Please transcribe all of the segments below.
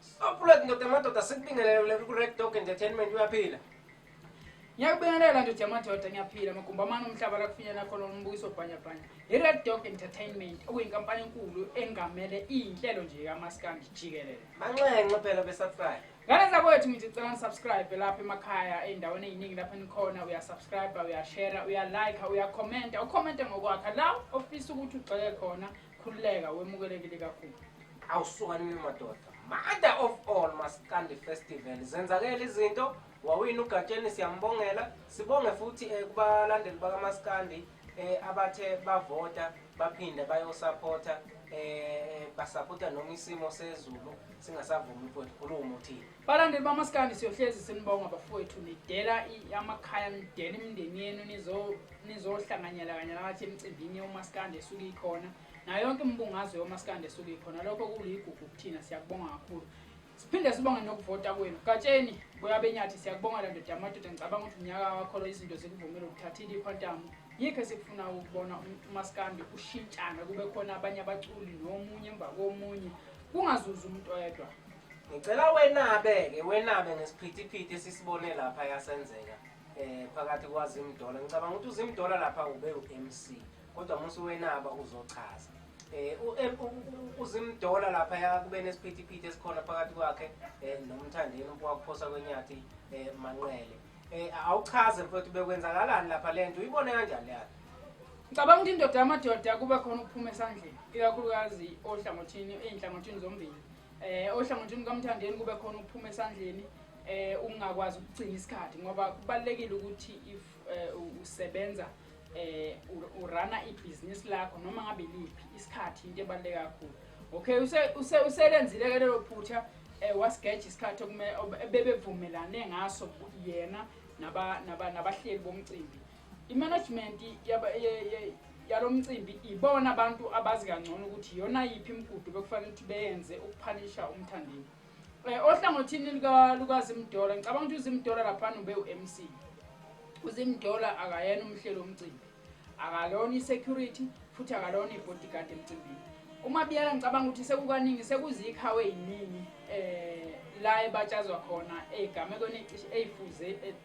Sibaphulet ndoda amadoda sikubingelele kule ku-Red Dog Entertainment uyaphila. Ngiyakubingelela ndoda amadoda ngiyaphila magumba amane omhlaba la kufinyela khona umbukiso bhanyabhanya. I-Red Dog Entertainment okuyinkampani enkulu engamele iy'nhlelo nje kamaskandi jikelele. Manxenxe phela besubscribe. Ngane zakwethu ngithi cela nisubscribe lapha emakhaya ey'ndaweni ey'ningi lapho enikhona uyasubscribe uyashera uyalike uyakhomenta ukhomenta ngokwakha la ofisa ukuthi ugxeke khona khululeka wemukelekile kakhulu awusukanile madoda mother of all maskandi festival zenzakele izinto wawina ugatsheni siyambongela sibonge futhi um kubalandeli bakamaskandi um eh, abathe bavota baphinde bayosaphotha um eh, basaphotha noma isimo sezulu singasavumi mfowethu khuluma uthini Balandeli bamaskandi siyohlezi sinibonga bafowethu nidela amakhaya nidela imindeni yenu nizohlanganyela kanye nakathi emcimbini yomaskandi esuke ikhona nayo yonke imibungazo yomaskandi esuke ikhona lokho kuligugu kuthina siyakubonga kakhulu siphinde sibonge nokuvota kwenu gatsheni boyabenyathi siyakubonga la ndoda amadoda ngicabanga ukuthi unyaka wakholo izinto zikuvumele ukuthathile ikhwantamu yikho esikufuna ukubona umaskandi ushintshana kube khona abanye abaculi nomunye emva komunye kungazuzi umuntu oyedwa Ngicela wenabe-ke wenabe ngesiphithiphithi esisibone lapha yasenzeka um phakathi kwazimdola ngicabanga ukuthi uzimdola lapha ube u-m c kodwa musi wenaba uzochaza um uzimdola lapha yakube nesiphithiphithi esikhona phakathi kwakhe um nomthandeni wakuphosa kwenyathi um manqele um awuchaze mfowethu bekwenzakalani lapha le nto uyibone kanjani le yakhe ngicabanga ukuthi indoda yamadoda kube khona ukuphuma esandleni ikakhulukazi ohlangothini ey'nhlangothini zombili Eh ohlangothini kaMthandeni kube khona ukuphuma esandleni eh ukungakwazi ukugcina isikhathi ngoba kubalekile ukuthi if eh, usebenza eh urana ibusiness lakho noma ngabe liphi isikhathi into ebaleka kakhulu okay use use uselenzile ke lelo phutha eh wasigeja isikhathi okume bebevumelane ngaso yena naba naba nabahleli bomcimbi I-management yalo mcimbi ibona abantu abazi kangcono ukuthi iyona yiphi imigudu bekufanele ukuthi beyenze ukuphanisha umthandeni um eh, ohlangothini lukazimdola ngicabanga ukuthi uzimdola laphana ube u-m c uzimdola akayena umhlelo omcimbi akalona i-security futhi akalona i-bodyguard emcimbini uma biyela ngicabanga ukuthi sekukaningi sekuzikhawe yiningi um la ebatshazwa khona ey'gamekweni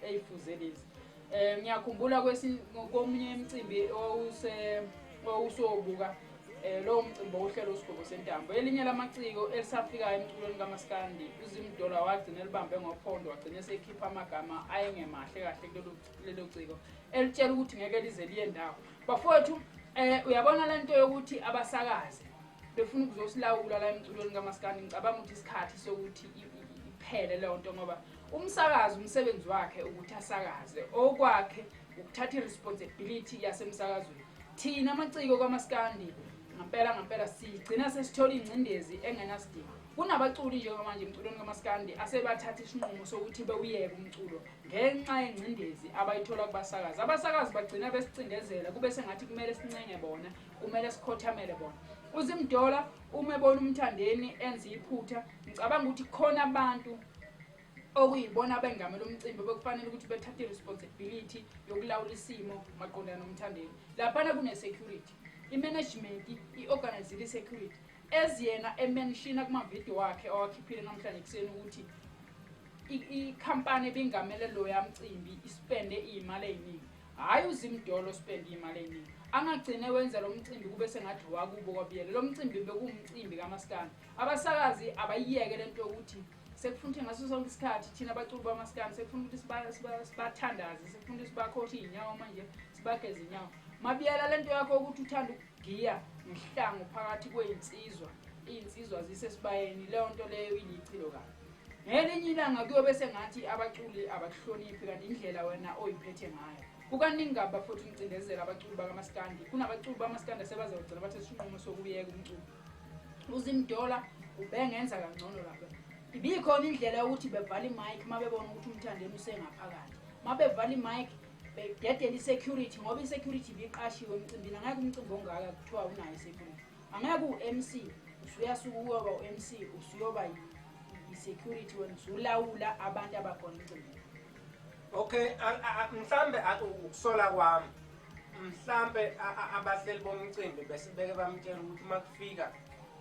eyifuze lezi Eh ngiyakhumbula komunye imicimbi owuse owusobuka eh lowo mcimbi ohlelo usigobo sentambo elinye lamaciko elisafikayo emculweni kamaskandi uzimdola wagcina elibambe ngophondo wagcina esekhipha amagama ayengemahle kahle kulelo lelo ciko elitshela ukuthi ngeke lize liye ndawo bafowethu eh uyabona lento yokuthi abasakaze befuna ukuzosilawula la emculweni kamaskandi ngicabanga ukuthi isikhathi sokuthi iphele leyo nto ngoba Umsakazi umsebenzi wakhe ukuthi asakaze okwakhe ukuthatha iresponsibility yasemsakazweni. Thina amaciko kwamaskandi ngampela ngampela sigcina sesithola ingcindezi engenasidingo. Kunabaculi njengamanje emculweni kamaskandi asebathatha isinqumo sokuthi bewuyeke umculo ngenxa yengcindezi abayithola kubasakazi. Abasakazi bagcina besicindezela kube sengathi kumele sincenge bona, kumele sikhothamele bona. Uzimdola uma ebona umthandeni enza iphutha Ngicabanga ukuthi khona abantu okuyibona abengamela umcimbi bekufanele ukuthi bethathe i-responsibility yokulawula isimo maqondana nomthandeni laphana kune-security i-management i-organizile i-security eziyena emenshina kumavidiyo wakhe owakhiphile namhlanje ekuseni ukuthi ikhampani ebingamele loya mcimbi ispende iy'mali ey'ningi hhayi uzimdolo ospende iy'mali ey'ningi angagcine wenza lo mcimbi kube sengathi wakubo kwabiyele lo mcimbi bekuwumcimbi kamaskandi Abasakazi abayiyeke lento yokuthi sekufuna ukuthi ngaso sonke isikhathi thina abaculi bamaskani sekufuna ukuthi sibathandaze sekufuna ukuthi sibakhothe iy'nyawo manje sibageze inyawo mabiyela le nto yakho ukuthi uthanda ukugiya ngehlango phakathi kwey'nsizwa iy'nsizwa zisesibayeni leyo nto leyo ilichilo kabi ngelinye ilanga kuyobe sengathi abaculi abakuhloniphi kanti indlela wena oyiphethe ngayo kukaningi kabi bafuthi umcindezela abaculi bakamaskandi kunabaculi bamaskandi asebazawugcina bathe sinqumo sokuyeka umculo uzimdola ubengenza kangcono lapho ibikhona indlela yokuthi bevala imike uma bebona ukuthi umthandeni usengaphakathi uma bevala imike bededela i-security ngoba i-security ibiqashiwe emcimbini angeke umcimbi ongaka kuthiwa unayo i-security angeke u-m c usuyasuka uyoba u-m c usuyoba i-security wena usulawula abantu abakhona emcimbini okay mhlawumbe ukusola kwami mhlampe abahleli bomcimbi bese beke bamtshela ukuthi uma kufika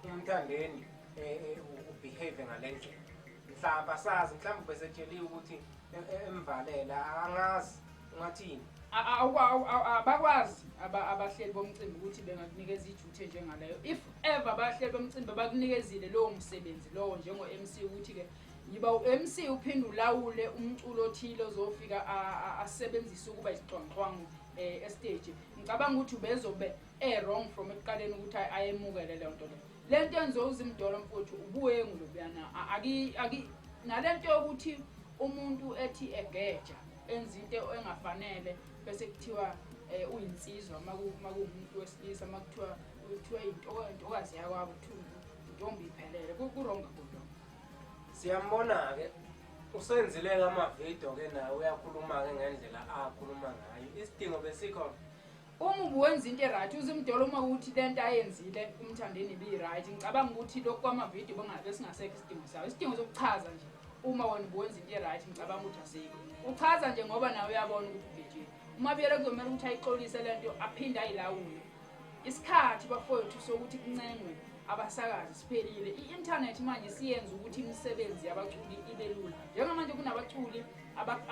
umthandeni eh, eh, ubehave ngale ndlela mhlawumbe asazi mhlawumbe besetsheliwe ukuthi eh, emvalela angazi ungathini abakwazi abahleli bomcimbi ukuthi bengakunikeza ijuthe njengaleyo if ever abahleli bomcimbi bakunikezile lowo msebenzi lowo njengo-mc ukuthi-ke Yiba uMC uphinde ulawule umculo othile ozofika asebenzise ukuba isixonxwangu eh estage. Ngicabanga ukuthi ubezobe e wrong from ekuqaleni ukuthi ayemukele le nto le. Le nto enzo uzimdolo mfuthu ubuye ngulobuyana aki aki nalento yokuthi umuntu ethi egeja enza into engafanele bese kuthiwa eh uyinsizwa makuwumuntu wesilisa makuthiwa kuthiwa into intokazi yakwabo kuthiwa intombi iphelele ku wrong kodwa Siyambona-ke usenzile-ke amavidiyo-ke naye uyakhuluma-ke ngendlela akhuluma ngayo isidingo besikhona umubi wenza into e-right uzimdola uma ukuthi le nto ayenzile umthandeni ibiyi-right ngicabanga ukuthi lokhu kwamavidiyo bengabe singasekho isidingo sawo isidingo sokuchaza nje uma wena ubuwenza into e-right ngicabanga ukuthi asikho uchaza nje ngoba nawe uyabona ukuthi ubhejile uma biyele kuzomele ukuthi ayixolise le nto aphinde ayilawule Isikhathi bafowethu sokuthi kuncengwe abasakazi siphelile. I-internet manje siyenza ukuthi imisebenzi yabaculi ibe lula. Njengamanje kunabaculi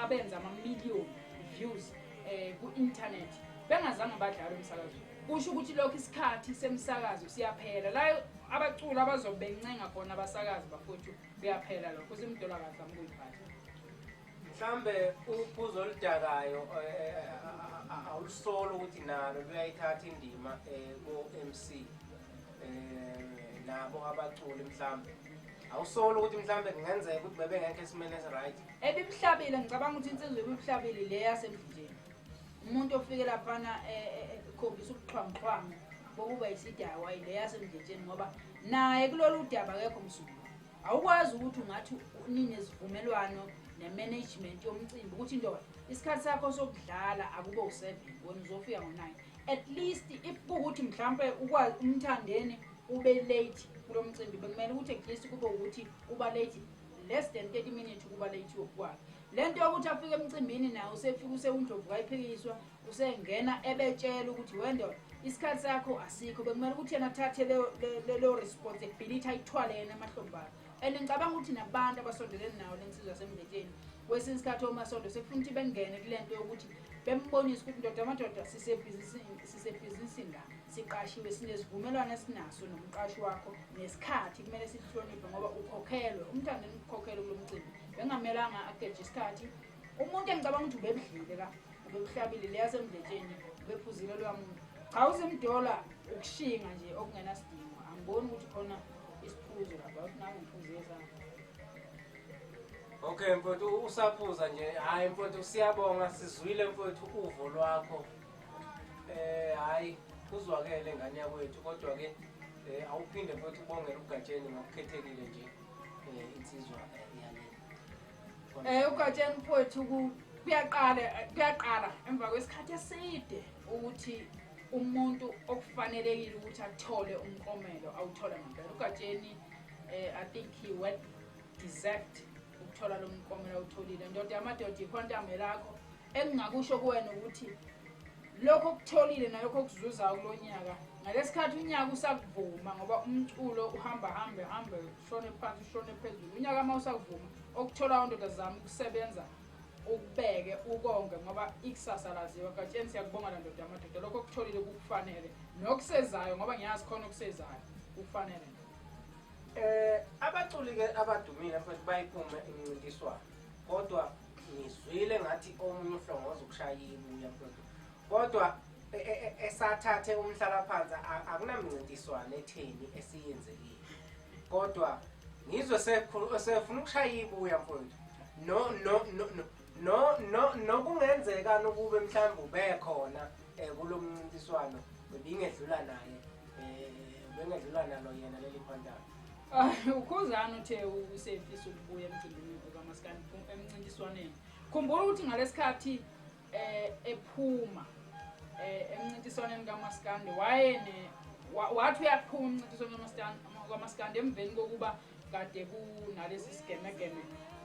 abenza ama-million views eh ku-internet bengazange badlale umsakazo. Kusho ukuthi lokho isikhathi semsakazo siyaphela. La abaculi abazobencenga khona abasakazi bafowethu kuyaphela lokho. Usimdola kahle amkuyiphatha. mhlambe uphuzo oludakayo eh, eh, awulusolo ukuthi nalo luyayithatha indima eh, ko-mc nabo abaculi mhlambe awusolo ukuthi mhlambe kungenzeka ukuthi bebengekho esimeni esiright ebibuhlabile ngicabanga ukuthi insizwa ebibuhlabile le yasemdlini umuntu ofike laphana ekhombisa ubuxhwanguxhwangu bokuba yisidakwa le yasemdletsheni ngoba naye kulolu daba kekho msuku awukwazi ukuthi ungathi ninezivumelwano ne-management yomcimbi ukuthi ndoda isikhathi sakho sokudlala akube u-seven wena uzofika ngo-nine at least if kuwukuthi mhlawumpe ukwazi umthandeni ube late kulo mcimbi bekumele ukuthi at least kube ukuthi uba late less than thirty minutes ukuba late yokukwakhe le nto yokuthi afike emcimbini naye usefika usewundlovu kayiphikiswa usengena ebetshela ukuthi wendoda isikhathi sakho asikho bekumele ukuthi yena athathe leyo responsibility ayithwale yena amahlombana and ngicabanga ukuthi nabantu abasondeleni nawo lensizwa semndetsheni kwesinye isikhathi omasondo sekufuna ukuthi bengene kule nto yokuthi bembonise ukuthi ndoda amadoda sisebhizinisini la siqashiwe sinezivumelwano esinaso nomqashi wakho nesikhathi kumele sihloniphe ngoba ukhokhelwe umntana enikukhokhelwe kulo mcimbi bengamelanga ageje isikhathi umuntu engicabanga ukuthi ubebudlile la Ubekuhlabile leya semdletsheni ubephuzile loya muntu. Cha usemdola ukushinga nje okungenasidingo. Angiboni ukuthi khona isiphuzo lapha ukuthi nawe uphuzile sana. Okay mfowethu usaphuza nje. Hayi mfowethu siyabonga sizwile mfowethu uvo lwakho. Eh hayi kuzwakele ngane yakwethu kodwa ke eh, awuphinde mfowethu ubongele ugatsheni ngokukhethekile nje eh, insizwa eh, Eh ugatsheni mfowethu kuyaqala kuyaqala emva kwesikhathi eside ukuthi umuntu okufanelekile ukuthi athole umkomelo awuthole ngempela ugatsheni eh i think he well deserved ukuthola lo mkomelo awutholile ndoda yamadoda ikhwantambe lakho engingakusho kuwena ukuthi lokho okutholile nalokho okuzuzayo kulo nyaka ngalesikhathi unyaka usakuvuma ngoba umculo uhamba hambe hambe ushone phansi ushone phezulu unyaka uma usavuma okuthola ondoda zami ukusebenza ukubeke ukonge ngoba ikusasa laziwa gatsheni siyakubonga la ndoda yamadoda lokho okutholile kukufanele nokusezayo ngoba ngiyazi khona okusezayo kukufanele eh abaculi-ke abadumile mfethu bayiphume imncintiswano kodwa ngizwile ngathi omunye uhlongoza ukushaya ibuya mfethu kodwa e, e, e, esathathe umhlalaphansi akunamncintiswano etheni esiyenzekile kodwa ngizwe sefuna ukushaya ibuya mfowethu no no no no no nokungenzeka nokuba mhlawumbe ubekhona eh, kulo mncintiswano bebingedlula naye eh, bengedlula nalo yena leli phantana ah, ukhuzana uthe usefisa ukubuya emcimbini okamasikani emncintiswaneni khumbula ukuthi ngalesikhathi eh ephuma eh emncintiswaneni kaMaskandi wayene wathi uyaphuma umncintiswano kaMaskandi kaMaskandi emveni kokuba kade kunalesi sigemegeme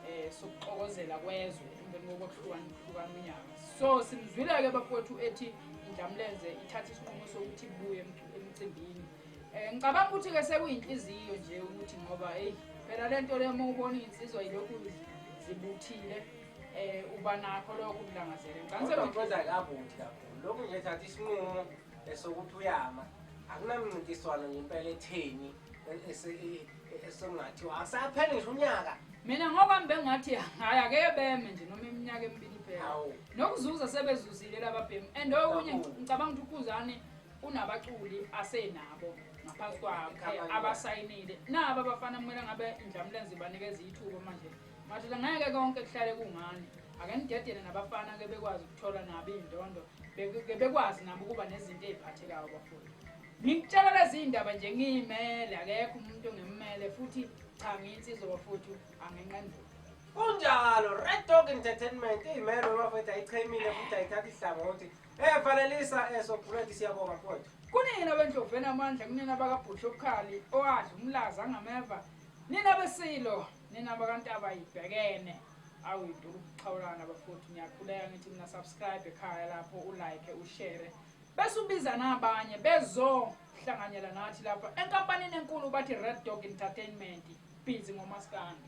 eh sokuxokozela kwezwe emveni kokuhlukana ukuhlukana unyaka so simzwile ke bafowethu ethi indlamlenze ithatha isinqumo sokuthi buye emcimbini eh ngicabanga ukuthi ke sekuyinhliziyo nje ukuthi ngoba hey phela lento lemo ubona insizwa yilokhu zibuthile eh uba nakho lokho ukulangazela ngicela ngicela kabuthi kakhulu lokhu nje thatha isinqumo esokuthi uyama akunamncintiswano nje impela etheni esengathiwa asaphele ngisho unyaka mina ngoba ngibengathi hayi ake beme nje noma iminyaka emibili iphela nokuzuza sebezuzile lababhemu and okunye ngicabanga ukuthi ukhuzane unabaculi asenabo ngaphansi kwakhe abasayinile nabo abafana kumele ngabe indlamulenzi banikeza ithuba manje Madoda ngeke konke kuhlale kungani. Ake nidedele nabafana ke bekwazi ukuthola nabo iy'ndondo. Be- Ke bekwazi nabo ukuba nezinto ey'phathekayo bafowethu. Ngikutshela lezi iy'ndaba nje ngiyimele akekho umuntu ongimmele futhi cha ngiyinsizwa bafowethu angenqenduka. Kunjalo, Red Dog Entertainment iyimelo bafowethu ayichemile futhi ayithathi ihlangothi. Eh fanelisa eh sokhuleki siyabonga mfowethu. kunina bendloveni amandla kunina bakabhusha obukhali owadla umlaza angameva nina besilo Nina bakantaba ibhekene awu iduru ukuxhawulana bafowethu ngiyakhuleka ngithi mina subscribe ekhaya lapho ulike ushare bese ubiza nabanye bezohlanganyela nathi lapha enkampanini enkulu bathi red dog entertainment busy ngomaskandi